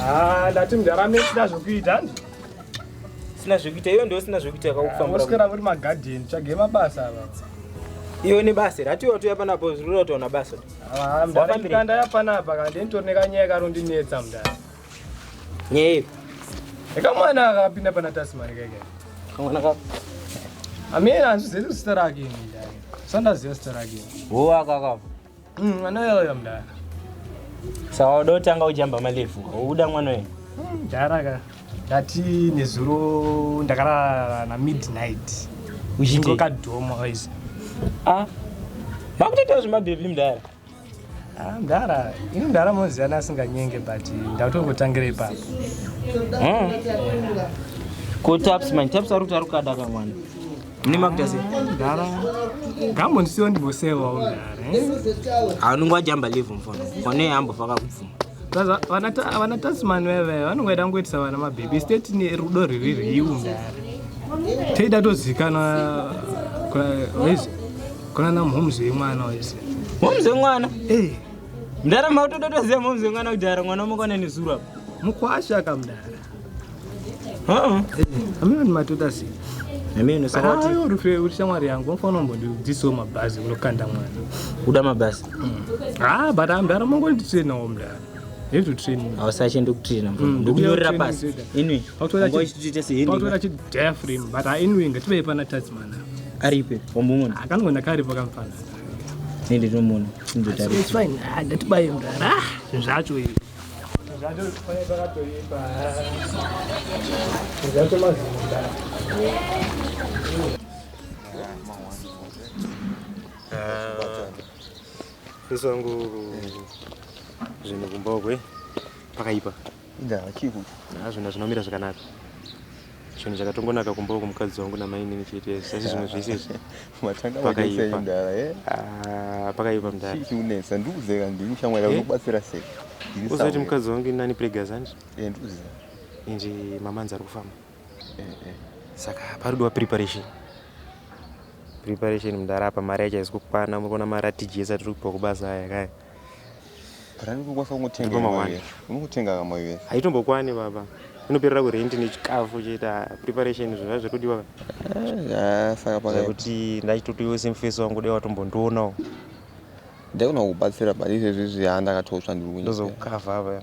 Ah, ndati mdara mesina zvekuita handi sina zvekuita iyo ndiyo sina zvekuita yakakufambira oswera kuti magadheni tsvage mabasa ava iyo ne basa here atiwa tuya panapo zvirura utaona basa Ah, mdara Wafambire. ndikanda yapanapa kandi nditori nekanyaya karondinetsa mdara Nyei. Eka mwana akapinda pana Tasmani keke. Kamwana ka. Amira azvizivi zita rake ini ndaya. Sandaziva zita rake. Wo akaka. Mm, anoyauya mdaya. Sawa uda kutanga ujamba malefu. Uda mwana uyu. Mm, Jara ka. Ndati nezuro ndakarara na midnight. Uchingoka dhomo guys. Ah. Makutoitawo zvemabhebhi mdaya. Ah, mdara ini mdara moziana asinganyenge but ndatokotangira ipapo hmm. ko taps man taps ari kuti ari kukada ka mwana mune makuita se mdara ngambondisiwo ndimbosewawo mdara eh? anonge wajamba live mfona one ambofaka kubvuma vana tasman veve vanonge vaida kungoitisa vana mabhebhi state ne rudo riri riu mdara teida tozikanwa Kuna na momzi wemwana wese. Momzi wemwana? Eh. Mdara mautototoziva momzi wemwana kuti ara mwana mukwana nezuru apa. Mukwasha ka mdara. Uh-uh. Eh, amene ni matuta si. Amene saka kuti ayo rufe uri shamwari yangu unofana mbondi dziso mabhazi unokanda mwana. Uda mabhazi. Mm. Ah, but amdara mongoli tsena omdara. hezvo training hausache ndokutraina mm, ndokunyorera pasi inwi ngochitoita sehenditora chidiaframe but inwi ngativei pana tasman aripe wambomuona akangoona karipo kamfana nende ndinomuona ndatibaye mdara zvacho izvi zvacho pane pakatoipa zvacho mazinda Uh, Sisi wangu zvinhu kumbokwe pakaipa. Inga chii kuti? Hazvina zvinomira zvakanaka. Chinhu chakatongonaka kumba uku mukadzi wangu namainini chete sasi zvimwe zvese izvi. Matanga pakaipa mdara eh. Ah, pakaipa mdara. Chii chiunetsa ndikuzeka ndini shamwari eh? unobatsira sei? Uzati mukadzi wangu inani pregazanji? Eh ndikuzeka. Inji mamanzi ari kufamba. saka paridiwa preparation preparation mdara apa mari yacho haisi kukwana murikuona mari atiji ese atiri kupiwa kubasa aya kaya haitombokwani baba inoperera kurenti nechikafu chete ah, preparation zvinhu zvazviri kudiwa eh, ah, kuti ndachitotoiwo semfesi wangu dai watombondionawo ndaigona kubatsira but izvezvi zviya ndakatotsva ndiri kunyika ndozokukavha apa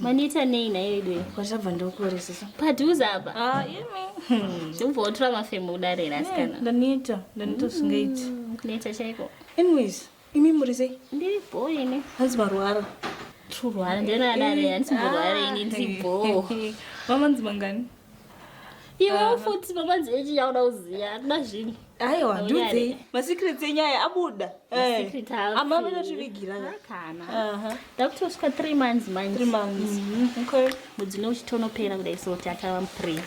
maneta nei nayo idwe kwachabva ndokuoresesa padhuze apa ah, zvobva wotora mafemo kudare ra asikana ndaneta ndaneta zvingaiti mm, kuneta chaiko anyways imi muri sei ndiri bho ini hanzi marwara turwara ndinoadare handisimborwara ini ndiri bho mamanzi mangani iwe ah. futi mamanzi echi yauda kuziva hatina zvinhu aiwa ndudzi masecrets enyu aya abuda eh. ama vanotivigira kana ndakutosvika three months manje mhm. mudzi une uchitonopera kudai so kuti achava mupre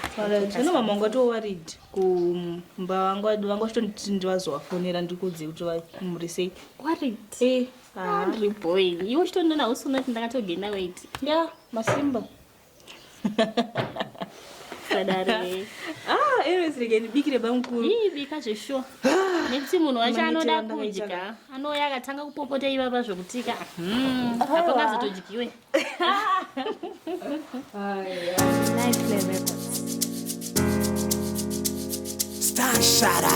zvino mama wanga towarid kumba wanga wanga uchitonditi ndivazovafonera ndikuudze kuti vamuri sei warid eh, ah. andri boy iwe uchitondona usunoti ndakatogenda wait ya masimba ah, erezirekenibikire bamukuru ii bika zveshuwa ah, nekuti munhu wacho anoda kudya anouya akatanga kupopota ivava zvokutika hmm, apo ngazotodyiwe Star Shara.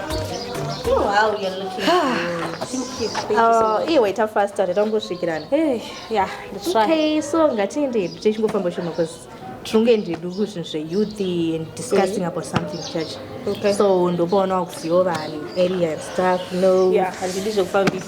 Wow, you're looking good. Oh, iwe ita faster tatangosvikirana. Hey, yeah, that's right. Okay, so ngatiende tichingofamba shoma because tinonge ndidu zvinhu zveyouthi and discussing about something church so ndopaona wakuziva vanhu area and stuff no handidi zvekufambisa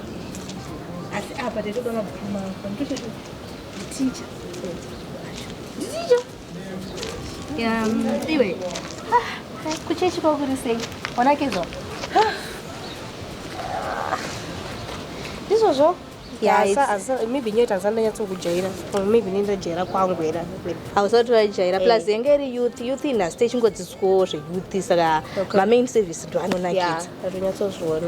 asi apa taitoda mabhuku mako nditochoti ticha nditicha iwe ah, kuchechi kwakuri sei wanakidzwa ndizvozvo maybe nyoe tanzani ndanyatsokujaira maybe nendajaira kwangu era hausati vajaira eh. plus yenge iri youth youth inhasi techingodzidzwawo zveyouth saka mamain service ndoanonakidza atonyatsozviona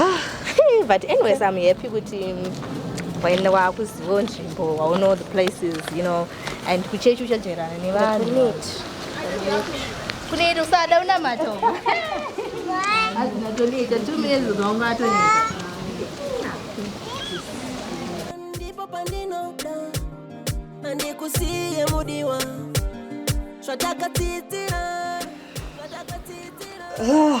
ah, but anyways i'm happy kuti waenda wakuzivawo nzvimbo wauno the places you know and kuchechi uchajairana nevanhu kuneiti usada unamata azinatoneta two minutes zvaunga atoneta ndipo pandinoda andikusiye mudiwa zvatakatsidzira zvatakatsidzira ah.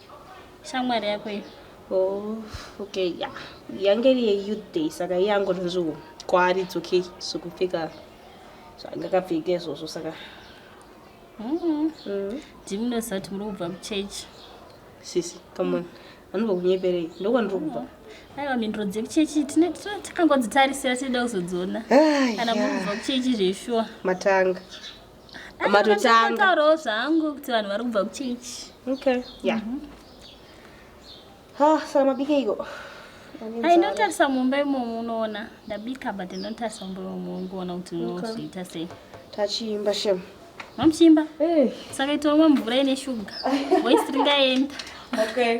shamwari yako iyo oh, okay ya yeah. yange iri yeyouth day saka iye angonzviwo kwaari it's okay zvekupfeka zvaangakapfeka izvozvo saka ndimunoziva kuti muri kubva kuchurch sisi come on anobva kunyeperei ndokwandiri kubva aiwa mhinduro dzekuchechi takangodzitarisira tinoda kuzodziona kana muri kubva kuchechi zveshuwa matanga matotangataurawo zvangu kuti vanhu vari kubva kuchechi okay yeah mm -hmm. ha saka mabikeiko ainotarisa mumba imomo unoona ndabika but ndinotarisa mumba imomo ungoona kuti unozviita sei tachiimba shem mamuchiimba eh. saka itoomwa mvura ine shuga voisi ringaenda okay